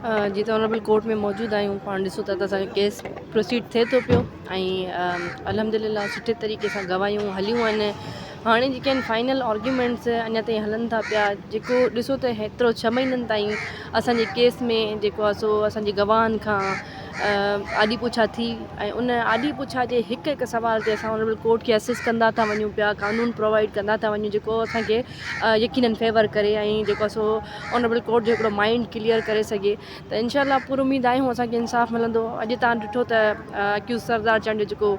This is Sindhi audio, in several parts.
جيئن ته آنريبل ڪورٽ ۾ موجود آهيون پاڻ ڏسو ٿا ته اسانجو ڪيس پروسيڊ ٿئي ٿو پيو ۽ الحمدلله سٺي طريقي سان گواهيون هليون آهن هاڻي جيڪي آهن فائنل آرگيومينٽس اڃا تائين هلن ٿا پيا جيڪو ڏسو ته هيترو ڇهه مهينن تائين اسانجي ڪيس ۾ جيڪو آهي سو اسانجي گواهن کان آڏي پڇا ٿي ۽ ان آڏي پڇا جي هڪ هڪ سوال تي اسان آنريبل ڪورٽ کي اسسٽ ڪندا ٿا وڃون پيا قانون پرووائيڊ ڪندا ٿا وڃون جيڪو اسانکي يقينن فيور ڪري ۽ جيڪو سو آنريبل ڪورٽ جو هڪڙو مائنڊ ڪليئر ڪري سگهي ته انشاء الله پر اميد آهيون اسان کي انصاف ملندو اڄ تان ڏٺو ته اڪيوز سردار چانڊيو جيڪو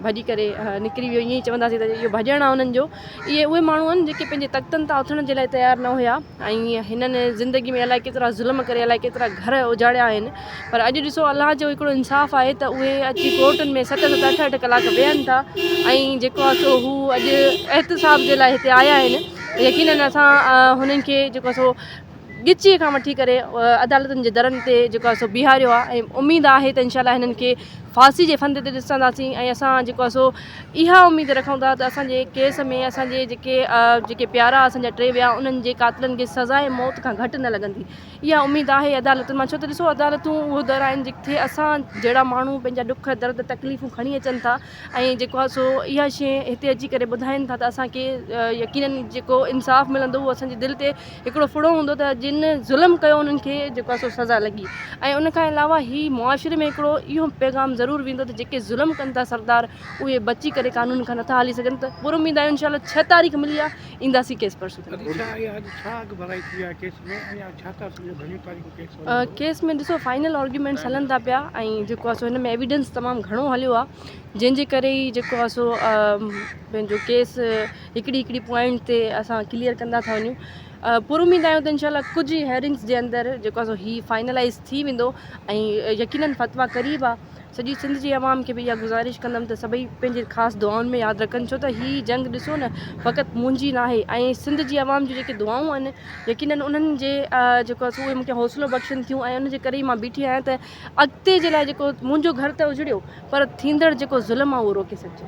ڀڄي ڪري نڪري ويو ائين چونداسين ته اهو ڀڄڻ آهي انهن جو اهي اهي ماڻهو آهن جيڪي پنهنجي تختن تان اٿڻ جي لاء تيار نه هيا ۽ هنن زندگي ۾ الائي ڪيترا ظلم ڪري الائي ڪيترا گهر اجاڙيا آهن پر اڄ ڏسو الله جو هڪڙو انصاف آهي ته اهي اچي ڪورٽن ۾ ست ست اٺ اٺ ڪلاڪ ويهن ٿا ۽ جيڪو آهي سو هو اڄ احتساب جي لاء هتي آيا آهن يقينن اسان هنن کي جيڪو آهي سو ڳچيء کان وٺي ڪري عدالتن جي درن تي جيڪو آهي سو بيهاريو آهي ۽ اميد آهي ته انشاءالله هنن کي ڦاسي جي ڦند تي ڏسنداسين ۽ اسان جيڪو آهي سو اها اميد رکون ٿا ته اسان جي ڪيس ۾ اسان جي جيڪي جيڪي پيارا اسان جا ٽي ويا انهن جي قاتلن کي سزاء موت کان گهٽ نه لڳندي اها اميد آهي عدالتن مان ڇو ته ڏسو عدالتون اهو در آهن جتي اسان جهڙا ماڻهو پنهنجا ڏک درد تڪليفون کڻي اچن ٿا ۽ جيڪو آهي سو اها شي هتي اچي ڪري ٻڌائين ٿا ته اسان کي يقينن جيڪو انصاف ملندو اهو اسان جي دل تي هڪڙو ڦڙو هوندو ته جن ظلم ڪيو انهن کي جيڪو آهي سو سزا لڳي ۽ ان کان علاوه هي معاشري ۾ هڪڙو اهو پيغام ضرور ويندو ته جيڪي ظلم ڪن ٿا سردار اهي بچي ڪري قانون کان نٿا هلي سگهن ته پر اميد آهي انشاء الله ڇهه تاريخ ملي آهي اينداسين ڪيس پرسون تائين اڳوڻي ڏينهن ايا اڄ ڇا اڳ ڀرائي ٿي آهي ڪيس ۾ ۽ اڄ ڇا ٿا سمجهو گهڻيون تاريخون ڪيس هلندو ڪيس ۾ ڏسو فائنل آرگيومينٽس هلن ٿا پيا ۽ جيڪو آهي سو هن ۾ ايويڊنس تمام گهڻو هليو آهي جنهن جي ڪري ئي جيڪو آهي سو پنهنجو ڪيس هڪڙي هڪڙي پوائنٽ تي اسان ڪليئر ڪندا ٿا وڃون پور اميد آهيون ته انشاء الله ڪجهه هيئرنگس جي اندر جيڪو آهي سو هي فائنلائز ٿي ويندو ۽ يقينن فتويٰ قريب آهي سڄي سنڌ جي عوام کي به اها گذارش ڪندم ته سڀئي پنهنجي خاص دعائن ۾ ياد رکن ڇو ته هي جنگ ڏسو نه فقط منهنجي ناهي ۽ سنڌ جي عوام جون جيڪي دعائون آهن يقينن انهن جي جيڪو آهي سو اهي مون کي حوصلو بخشن ٿيون ۽ ان جي ڪري ئي مان بيٺي آهيان ته اڳتي جي لاء جيڪو منهنجو گهر ته اجڙيو پر ٿيندڙ جيڪو ظلم آهي اهو روڪي سگهجي.